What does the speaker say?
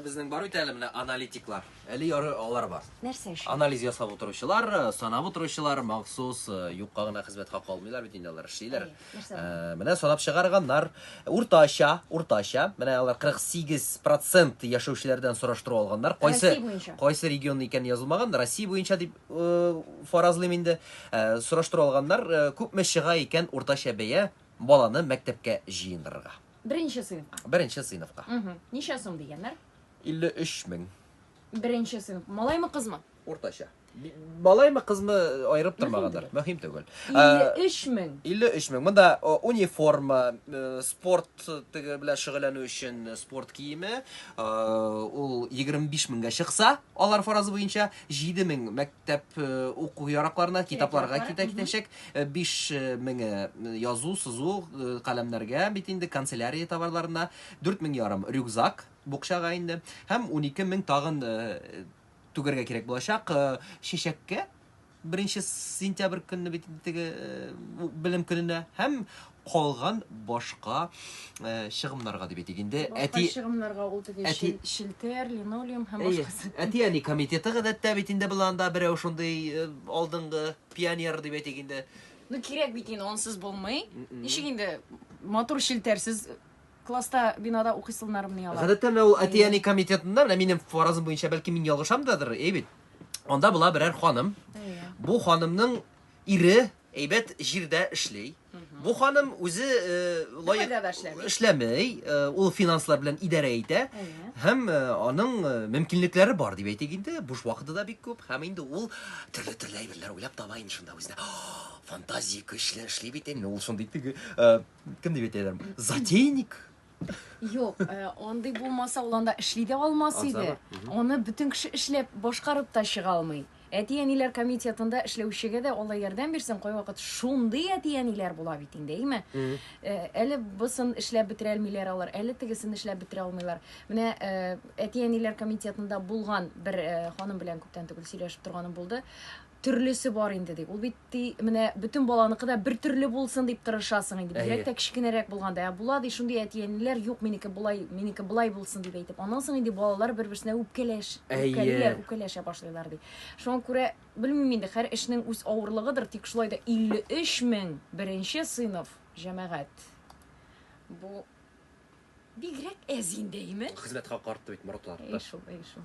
Безнең бар бит әле менә аналитиклар. Әле ярый алар бар. Нәрсә өчен? Анализ ясап утыручылар, санап утыручылар махсус юкка гына хезмәт хакы алмыйлар бит инде алар эшлиләр. Менә санап чыгарганнар. Уртача, уртача, менә алар 48% яшәүчеләрдән сораштыру алганнар. Кайсы кайсы регион икән язылмаган, Россия буенча дип фаразлыйм инде. Сораштыру алганнар, күпме чыга икән уртача бәя баланы мәктәпкә җыендырырга. Беренче сыйныфка. Беренче сыйныфка. Угу. Ничә сум дигәннәр? 53 мең. Беренче сыйныф. Малаймы кызмы? Уртача. Малаймы кызмы айырып тормагандыр. Мөһим түгел. 53 мең. 53 мең. Монда униформа, спорт теге белән шөгыльләнү өчен спорт киеме, ул 25 меңгә чыкса, алар фаразы буенча 7 мең мәктәп уку яракларына, китапларга китә китәчәк. 5000 язу, сызу каләмнәргә бит инде канцелярия товарларына, 4000 ярым рюкзак букчага инде һәм 12000 тагын түгәргә кирәк булачак чәчәккә беренче сентябрь көнне бит теге белем көненә һәм калган башка э, чыгымнарга дип әйтик инде. Башка Әти чыгымнарга ул теге Әти- шел- шелтер, линолеум һәм Әйе, башкасы. әти-әни комитеты гадәттә бит инде быны анда берәү шундый э, алдынгы пионер дип әйтик инде. Ну кирәк бит инде ансыз булмый. Мгм. Ничек инде матур шелтерсез класста бинада укыйсыннар менә алар. Гадәттә менә ул әти-әни комитетында, менә минем фаразым буенча, бәлки мин ялгышамдадыр, әй бит. Анда була берәр ханым. Әйе. Бу ханымның ире Әйбәт җирдә эшли. Бу ханым үзе лаек эшләмей, ул финанслар белән идарә итә. Һәм аның мөмкинлекләре бар дип әйтик инде, буш вакыты да бик күп. Һәм инде ул төрле-төрле әйберләр уйлап таба инде шунда үзенә. Фантазия көчле эшли бит инде, ул шундый теге кем дип әйтәләр? Затейник. Юк, э, андый булмаса ул анда эшли дә алмас Азабы, иде. мгм. Аны бөтен кеше эшләп башкарып та чыга алмый. Әти-әниләр комитетында эшләүчегә дә Алла ярдәм бирсен, кайвакыт шундый әти-әниләр була бит инде, әйме? Мгм. Э, Әле бысын эшләп бетерә алмыйлар алар, әле тегесен эшләп бетерә алмыйлар. Менә э, әти-әниләр комитетында булган бер э, ханым белән күптән түгел сөйләшеп торганым булды. төрлесе бар инде ди. Ул бит ди, менә бөтен баланыкы да бер төрле булсын дип тырышасың инде. Бигрәк тә кечкенәрәк булганда. Ә була ди шундый әти-әниләр, юк, минеке болай, минеке болай булсын дип әйтеп. Аннан соң инде балалар бер-берсенә үпкәләш, үпкәлиләр, үпкәләшә башлыйлар ди. Шуңа күрә, белмим инде, һәр эшнең үз авырлыгыдыр, тик шулай да 53 мең беренче сыйныф, җәмәгать. Бу бигрәк әз инде, әйеме? Хезмәт хакы артты бит, Моратлар. Әйе шул, әйе шул.